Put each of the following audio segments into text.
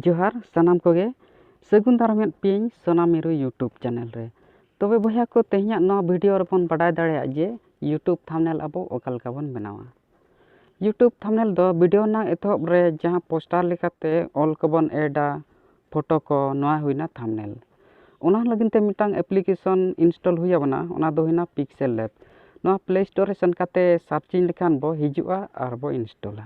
ᱡᱚᱦᱟᱨ ᱥᱟᱱᱟᱢ ᱠᱚᱜᱮ ᱥᱟᱹᱜᱩᱱ ᱫᱟᱨᱟᱢᱮᱫ ᱯᱮᱭᱟᱹᱧ ᱥᱚᱱᱟ ᱢᱤᱨᱩ ᱤᱭᱩᱴᱩᱵᱽ ᱪᱮᱱᱮᱞ ᱨᱮ ᱛᱚᱵᱮ ᱵᱚᱭᱦᱟ ᱠᱚ ᱛᱮᱦᱮᱧᱟᱜ ᱱᱚᱣᱟ ᱵᱷᱤᱰᱤᱭᱳ ᱨᱮᱵᱚᱱ ᱵᱟᱰᱟᱭ ᱫᱟᱲᱮᱭᱟᱜ ᱡᱮ ᱤᱭᱩᱴᱩᱵᱽ ᱛᱷᱟᱢᱱᱮᱞ ᱟᱵᱚ ᱚᱠᱟ ᱞᱮᱠᱟ ᱵᱚᱱ ᱵᱮᱱᱟᱣᱟ ᱤᱭᱩᱴᱩᱵᱽ ᱛᱷᱟᱢᱱᱮᱞ ᱫᱚ ᱵᱷᱤᱰᱤᱭᱳ ᱨᱮᱱᱟᱜ ᱮᱛᱚᱦᱚᱵ ᱨᱮ ᱡᱟᱦᱟᱸ ᱯᱳᱥᱴᱟᱨ ᱞᱮᱠᱟᱛᱮ ᱚᱞ ᱠᱚᱵᱚᱱ ᱮᱰᱟ ᱯᱷᱳᱴᱳ ᱠᱚ ᱱᱚᱣᱟ ᱦᱩᱭᱱᱟ ᱛᱷᱟᱢᱱᱮᱞ ᱚᱱᱟ ᱞᱟᱹᱜᱤᱫ ᱛᱮ ᱢᱤᱫᱴᱟᱝ ᱮᱯᱞᱤᱠᱮᱥᱚᱱ ᱤᱱᱥᱴᱚᱞ ᱦᱩᱭ ᱟᱵᱚᱱᱟ ᱚᱱᱟ ᱫᱚ ᱦᱩᱭᱱᱟ ᱯᱤᱠᱥᱮᱞ ᱞᱮᱵᱽ ᱱᱚᱣᱟ ᱯᱞᱮ ᱥᱴᱳᱨ ᱨᱮ ᱥᱮᱱ ᱠᱟᱛᱮᱫ ᱥᱟᱨᱪᱤᱝ ᱞᱮᱠᱷᱟᱱ ᱵᱚ ᱦᱤᱡᱩᱜᱼᱟ ᱟᱨ ᱵᱚ ᱤᱱᱥᱴᱚᱞᱟ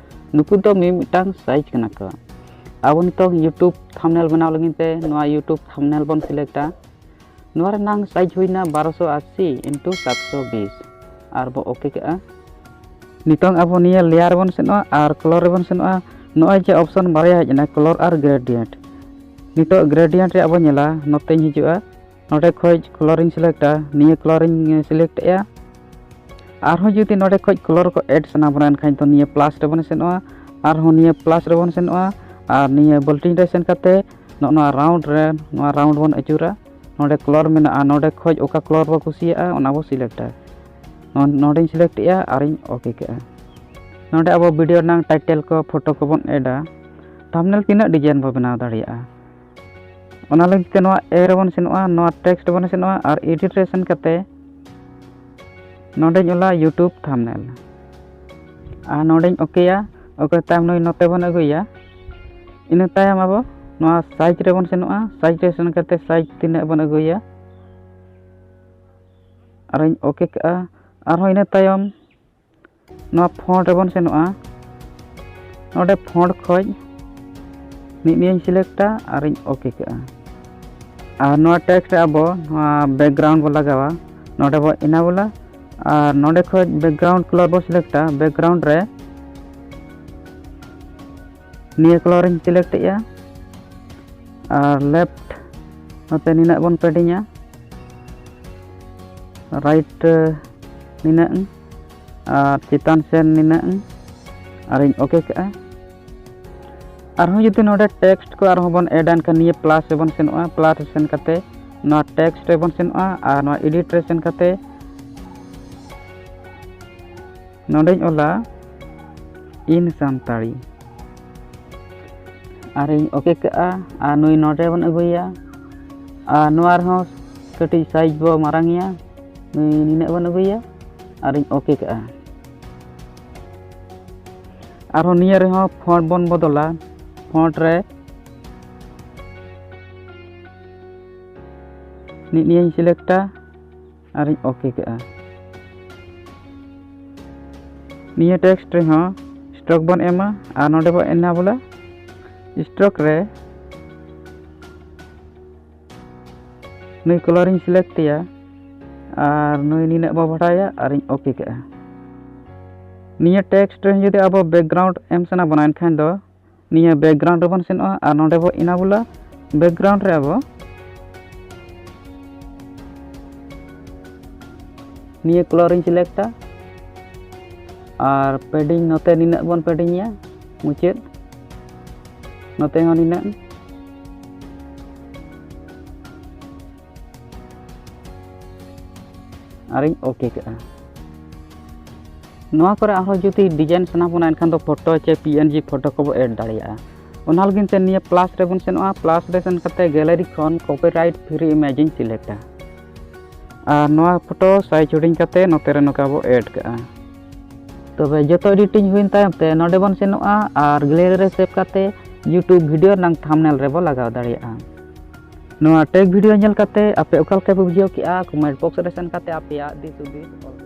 ᱱᱩᱠᱩ ᱫᱚ ᱢᱤ ᱢᱤᱫᱴᱟᱝ ᱥᱟᱭᱤᱡᱽ ᱠᱟᱱᱟ ᱠᱚ ᱟᱵᱚ ᱱᱤᱛᱚᱜ ᱤᱭᱩᱴᱩᱵᱽ ᱛᱷᱟᱢᱱᱮᱞ ᱵᱮᱱᱟᱣ ᱞᱟᱹᱜᱤᱫ ᱛᱮ ᱱᱚᱣᱟ ᱤᱭᱩᱴᱩᱵᱽ ᱛᱷᱟᱢᱱᱮᱞ ᱵᱚᱱ ᱥᱤᱞᱮᱠᱴᱟ ᱱᱚᱣᱟ ᱨᱮᱱᱟᱝ ᱥᱟᱭᱤᱡᱽ ᱦᱩᱭᱱᱟ ᱵᱟᱨᱚᱥᱚ ᱟᱥᱤ ᱤᱱᱴᱩ ᱥᱟᱛᱥᱚ ᱵᱤᱥ ᱟᱨ ᱵᱚ ᱳᱠᱮ ᱠᱟᱜᱼᱟ ᱱᱤᱛᱚᱝ ᱟᱵᱚ ᱱᱤᱭᱟᱹ ᱞᱮᱭᱟᱨ ᱵᱚᱱ ᱥᱮᱱᱚᱜᱼᱟ ᱟᱨ ᱠᱞᱚᱨ ᱨᱮᱵᱚᱱ ᱥᱮᱱᱚᱜᱼᱟ ᱱᱚᱜᱼᱚᱭ ᱡᱮ ᱚᱯᱥᱚᱱ ᱵᱟᱨᱭᱟ ᱦᱮᱡ ᱮᱱᱟ ᱠᱞᱚᱨ ᱟᱨ ᱜᱨᱮᱰᱤᱭᱮᱱᱴ ᱱᱤᱛᱚᱜ ᱜᱨᱮᱰᱤᱭᱮᱱᱴ ᱨᱮᱭᱟᱜ ᱵᱚᱱ ᱧᱮᱞᱟ ᱱᱚᱛᱮᱧ ᱦᱤᱡᱩᱜᱼᱟ ᱱᱚᱰᱮ ᱠᱷᱚᱡ ᱠᱚᱞᱚᱨᱤᱧ ᱥᱤᱞᱮᱠᱴᱟ ᱱᱤᱭᱟᱹ ᱠᱚᱞᱚᱨᱤᱧ ᱥᱤᱞᱮᱠᱴ ᱮᱜᱼᱟ ᱟᱨᱦᱚᱸ ᱡᱩᱫᱤ ᱱᱚᱰᱮ ᱠᱷᱚᱡ ᱠᱚᱞᱚᱨ ᱠᱚ ᱮᱰ ᱥᱟᱱᱟ ᱵᱚᱱᱟ ᱮᱱᱠᱷᱟᱱ ᱫᱚ ᱱᱤᱭᱟᱹ ᱯᱞᱟᱥ ᱨᱮᱵᱚᱱ ᱥᱮᱱᱚᱜᱼᱟ ᱟᱨᱦᱚᱸ ᱱᱤᱭᱟᱹ ᱯᱞᱟᱥ ᱨᱮᱵᱚᱱ ᱥᱮᱱᱚᱜᱼᱟ ᱟᱨ ᱱᱤᱭᱟᱹ ᱵᱚᱞᱴᱤᱝ ᱨᱮ ᱥᱮᱱ ᱠᱟᱛᱮ ᱱᱚᱜᱼᱚ ᱱᱚᱣᱟ ᱨᱟᱣᱩᱱᱰ ᱨᱮ ᱱᱚᱣᱟ ᱨᱟᱣᱩᱱᱰ ᱵᱚᱱ ᱟᱹᱪᱩᱨᱟ ᱱᱚᱰᱮ ᱠᱚᱞᱚᱨ ᱢᱮᱱᱟᱜᱼᱟ ᱱᱚᱰᱮ ᱠᱷᱚᱡ ᱚᱠᱟ ᱠᱚᱞᱚᱨ ᱵᱚ ᱠᱩᱥᱤᱭᱟᱜᱼᱟ ᱚᱱᱟ ᱵᱚ ᱥᱤᱞᱮᱠᱴᱟ ᱱᱚᱰᱮᱧ ᱥᱤᱞᱮᱠᱴ ᱮᱜᱼᱟ ᱟᱨᱤᱧ ᱳᱠᱮ ᱠᱮᱜᱼᱟ ᱱᱚᱰᱮ ᱟᱵᱚ ᱵᱷᱤᱰᱤᱭᱳ ᱨᱮᱱᱟᱜ ᱴᱟᱭᱴᱮᱞ ᱠᱚ ᱯᱷᱳᱴᱳ ᱠᱚᱵᱚᱱ ᱮᱰᱟ ᱛᱷᱟᱢᱵᱽᱱᱮᱞ ᱛᱤᱱᱟᱹᱜ ᱰᱤᱡᱟᱭᱤᱱ ᱵᱚ ᱵᱮᱱᱟᱣ ᱫᱟᱲᱮᱭᱟᱜᱼᱟ ᱚᱱᱟ ᱞᱟᱹᱜᱤᱫ ᱛᱮ ᱱᱚᱣᱟ ᱮ ᱨᱮᱵᱚᱱ ᱥᱮᱱᱚᱜᱼᱟ ᱱᱚᱣᱟ ᱴᱮᱠᱥᱴ ᱵᱚᱱ ᱥᱮᱱᱚᱜᱼᱟ ᱟᱨ ᱮᱰᱤᱴ ᱨᱮ ᱥᱮᱱ ᱠᱟᱛᱮ ᱱᱚᱰᱮᱧ ᱚᱞᱟ ᱭᱩᱴᱩᱵᱽ ᱛᱷᱟᱢᱱᱮᱞ ᱟᱨ ᱱᱚᱰᱮᱧ ᱚᱠᱮᱭᱟ ᱚᱠᱮ ᱛᱟᱭᱚᱢ ᱱᱩᱭ ᱱᱚᱛᱮ ᱵᱚᱱ ᱟᱹᱜᱩᱭᱟ ᱤᱱᱟᱹ ᱛᱟᱭᱚᱢ ᱟᱵᱚ ᱱᱚᱣᱟ ᱥᱟᱭᱤᱡᱽ ᱨᱮᱵᱚᱱ ᱥᱮᱱᱚᱜᱼᱟ ᱥᱟᱭᱤᱡᱽ ᱨᱮ ᱥᱮᱱ ᱠᱟᱛᱮ ᱥᱟᱭᱤᱡᱽ ᱛᱤᱱᱟᱹᱜ ᱵᱚᱱ ᱟᱹᱜᱩᱭᱟ ᱟᱨᱤᱧ ᱚᱠᱮ ᱠᱟᱜᱼᱟ ᱟᱨᱦᱚᱸ ᱤᱱᱟᱹ ᱛᱟᱭᱚᱢ ᱱᱚᱣᱟ ᱯᱷᱚᱸᱰ ᱨᱮᱵᱚᱱ ᱥᱮᱱᱚᱜᱼᱟ ᱱᱚᱰᱮ ᱯᱷᱚᱸᱰ ᱠᱷᱚᱡ ᱢᱤᱫ ᱱᱤᱭᱟᱹᱧ ᱥᱤᱞᱮᱠᱴᱟ ᱟᱨᱤᱧ ᱳᱠᱮ ᱠᱟᱜᱼᱟ ᱟᱨ ᱱᱚᱣᱟ ᱴᱮᱠᱥᱴ ᱨᱮ ᱟᱵᱚ ᱱᱚᱣᱟ ᱵᱮᱠᱜᱨᱟᱣᱩᱱᱰ ᱵᱚᱱ ᱞᱟᱜᱟᱣᱟ ᱱᱚᱰᱮ ᱵᱚ ᱮᱱᱟᱵᱚᱞᱟ ᱟᱨ ᱱᱚᱰᱮ ᱠᱷᱚᱡ ᱵᱮᱠᱜᱨᱟᱣᱩᱱᱰ ᱠᱞᱚᱨ ᱵᱚ ᱥᱤᱞᱮᱠᱴᱟ ᱵᱮᱠᱜᱨᱟᱣᱩᱱᱰ ᱨᱮ ᱱᱤᱭᱟᱹ ᱠᱟᱞᱟᱨ ᱤᱧ ᱥᱤᱞᱮᱠᱴ ᱮᱜᱼᱟ ᱟᱨ ᱞᱮᱯᱷᱴ ᱱᱚᱛᱮ ᱱᱤᱱᱟᱹᱜ ᱵᱚᱱ ᱯᱮᱰᱤᱝᱟ ᱨᱟᱭᱤᱴ ᱱᱤᱱᱟᱹᱜ ᱟᱨ ᱪᱮᱛᱟᱱ ᱥᱮᱱ ᱱᱤᱱᱟᱹᱜ ᱟᱨᱤᱧ ᱳᱠᱮ ᱠᱟᱜᱼᱟ ᱟᱨᱦᱚᱸ ᱡᱩᱫᱤ ᱱᱚᱰᱮ ᱴᱮᱠᱥᱴ ᱠᱚ ᱟᱨᱦᱚᱸ ᱵᱚᱱ ᱮᱰ ᱮᱱᱠᱷᱟᱱ ᱱᱤᱭᱟᱹ ᱯᱞᱟᱥ ᱨᱮᱵᱚᱱ ᱥᱮᱱᱚᱜᱼᱟ ᱯᱞᱟᱥ ᱨᱮ ᱥᱮᱱ ᱠᱟᱛᱮ ᱱᱚᱣᱟ ᱴᱮᱠᱥᱴ ᱨᱮᱵᱚᱱ ᱥᱮᱱᱚᱜᱼᱟ ᱟᱨ ᱱᱚᱣᱟ ᱮᱰᱤᱴ ᱨᱮ ᱥᱮᱱ ᱠᱟᱛᱮ ᱱᱚᱰᱮᱧ ᱚᱞᱟ ᱤᱱ ᱥᱟᱱᱛᱟᱲᱤ ᱟᱨᱤᱧ ᱳᱠᱮ ᱠᱟᱜᱼᱟ ᱟᱨ ᱱᱩᱭ ᱱᱚᱰᱮ ᱵᱚᱱ ᱟᱹᱜᱩᱭᱟ ᱟᱨ ᱱᱚᱣᱟ ᱨᱮᱦᱚᱸ ᱠᱟᱹᱴᱤᱡ ᱥᱟᱭᱤᱡᱽ ᱵᱚ ᱢᱟᱨᱟᱝᱮᱭᱟ ᱱᱩᱭ ᱱᱤᱱᱟᱹᱜ ᱵᱚᱱ ᱟᱹᱜᱩᱭᱟ ᱟᱨᱤᱧ ᱳᱠᱮ ᱠᱟᱜᱼᱟ ᱟᱨᱦᱚᱸ ᱱᱤᱭᱟᱹ ᱨᱮᱦᱚᱸ ᱯᱷᱚᱱᱴ ᱵᱚᱱ ᱵᱚᱫᱚᱞᱟ ᱯᱷᱚᱱᱴ ᱨᱮ ᱱᱤᱭᱟᱹᱧ ᱥᱤᱞᱮᱠᱴᱟ ᱟᱨᱤᱧ ᱳᱠᱮ ᱠᱮᱫᱼᱟ ᱱᱤᱭᱟᱹ ᱴᱮᱠᱥᱴ ᱨᱮᱦᱚᱸ ᱥᱴᱨᱚᱠ ᱵᱚᱱ ᱮᱢᱟ ᱟᱨ ᱱᱚᱰᱮ ᱵᱚᱱ ᱮᱱᱟ ᱵᱚᱞᱮ ᱥᱴᱨᱚᱠ ᱨᱮ ᱱᱩᱭ ᱠᱚᱞᱚᱨᱤᱧ ᱥᱤᱞᱮᱠᱴᱮᱭᱟ ᱟᱨ ᱱᱩᱭ ᱱᱤᱱᱟᱹᱜ ᱵᱚ ᱵᱟᱰᱟᱭᱟ ᱟᱨᱤᱧ ᱳᱠᱮ ᱠᱮᱫᱼᱟ ᱱᱤᱭᱟᱹ ᱴᱮᱠᱥᱴ ᱨᱮ ᱡᱩᱫᱤ ᱟᱵᱚ ᱵᱮᱠᱜᱨᱟᱣᱩᱱᱰ ᱮᱢ ᱥᱟᱱᱟ ᱵᱚᱱᱟ ᱮᱱᱠᱷᱟᱱ ᱫᱚ ᱱᱤᱭᱟᱹ ᱵᱮᱠᱜᱨᱟᱣᱩᱱᱰ ᱨᱮᱵᱚᱱ ᱥᱮᱱᱚᱜᱼᱟ ᱟᱨ ᱱᱚᱰᱮ ᱵᱚ ᱤᱱᱟᱵᱩᱞᱟ ᱵᱮᱠᱜᱨᱟᱣᱩᱱᱰ ᱨᱮ ᱟᱵᱚ ᱱᱤᱭᱟᱹ ᱠᱞᱚᱨᱤᱧ ᱥᱤᱞᱮᱠᱴᱟ ᱟᱨ ᱯᱮᱰᱤᱝ ᱱᱚᱛᱮ ᱱᱤᱱᱟᱹᱜ ᱵᱚᱱ ᱯᱮᱰᱤᱝᱟ ᱢᱩᱪᱟᱹᱫ ᱱᱚᱛᱮ ᱦᱚᱸ ᱱᱤᱱᱟᱹᱜ ᱟᱨᱤᱧ ᱳᱠᱮ ᱠᱟᱜᱼᱟ ᱱᱚᱣᱟ ᱠᱚᱨᱮ ᱟᱨᱦᱚᱸ ᱡᱩᱫᱤ ᱰᱤᱡᱟᱭᱤᱱ ᱥᱟᱱᱟ ᱵᱚᱱᱟ ᱮᱱᱠᱷᱟᱱ ᱫᱚ photo J P N G photo ᱠᱚᱵᱚ ᱮᱰ ᱫᱟᱲᱮᱭᱟᱜᱼᱟ ᱚᱱᱟ ᱞᱟᱹᱜᱤᱫ ᱛᱮ ᱱᱤᱭᱟᱹ ᱯᱞᱟᱥ ᱨᱮᱵᱚᱱ ᱥᱮᱱᱚᱜᱼᱟ ᱯᱞᱟᱥ ᱨᱮ ᱥᱮᱱ ᱠᱟᱛᱮ ᱜᱮᱞᱟᱨᱤ ᱠᱷᱚᱱ ᱠᱚᱯᱤᱨᱟᱭᱤᱴ ᱯᱷᱨᱤ ᱤᱢᱮᱡᱽ ᱤᱧ ᱥᱤᱞᱮᱠᱴᱟ ᱟᱨ ᱱᱚᱣᱟ ᱯᱷᱳᱴᱳ ᱥᱟᱭᱤᱡᱽ ᱦᱩᱰᱤᱧ ᱠᱟᱛᱮ ᱱᱚᱛᱮ ᱨᱮ ᱱᱚᱝᱠᱟ ᱵᱚ ᱮᱰ ᱠᱟᱜᱼᱟ ᱛᱚᱵᱮ ᱡᱚᱛᱚ ᱮᱰᱤᱴᱤᱝ ᱦᱩᱭᱮᱱ ᱛᱟᱭᱚᱢ ᱛᱮ ᱱᱚᱰᱮ ᱵᱚᱱ ᱥᱮᱱᱚᱜᱼᱟ ᱟᱨ ᱜᱮᱞᱟᱨᱤ ᱨᱮ ᱥᱮᱵᱷ ᱠᱟᱛᱮ ᱤᱭᱩᱴᱩᱵᱽ ᱵᱷᱤᱰᱤᱭᱳ ᱨᱮᱱᱟᱜ ᱛᱷᱟᱢᱱᱮᱞ ᱨᱮᱵᱚ ᱞᱟᱜᱟᱣ ᱫᱟᱲᱮᱭᱟᱜᱼᱟ ᱱᱚᱣᱟ ᱴᱮᱠ ᱵᱷᱤᱰᱤᱭᱳ ᱧᱮᱞ ᱠᱟᱛᱮ ᱟᱯᱮ ᱚᱠᱟ ᱞᱮᱠᱟ ᱯᱮ ᱵᱩᱡᱷᱟᱹᱣ ᱠᱮᱜᱼᱟ ᱠᱚᱢᱮᱱᱴ ᱵᱚᱠᱥ ᱨᱮ ᱥᱮᱱ ᱠᱟᱛᱮ ᱟᱯᱮᱭᱟᱜ ᱫᱤᱥ ᱦᱩᱫᱤᱥ ᱚᱞ ᱯᱮ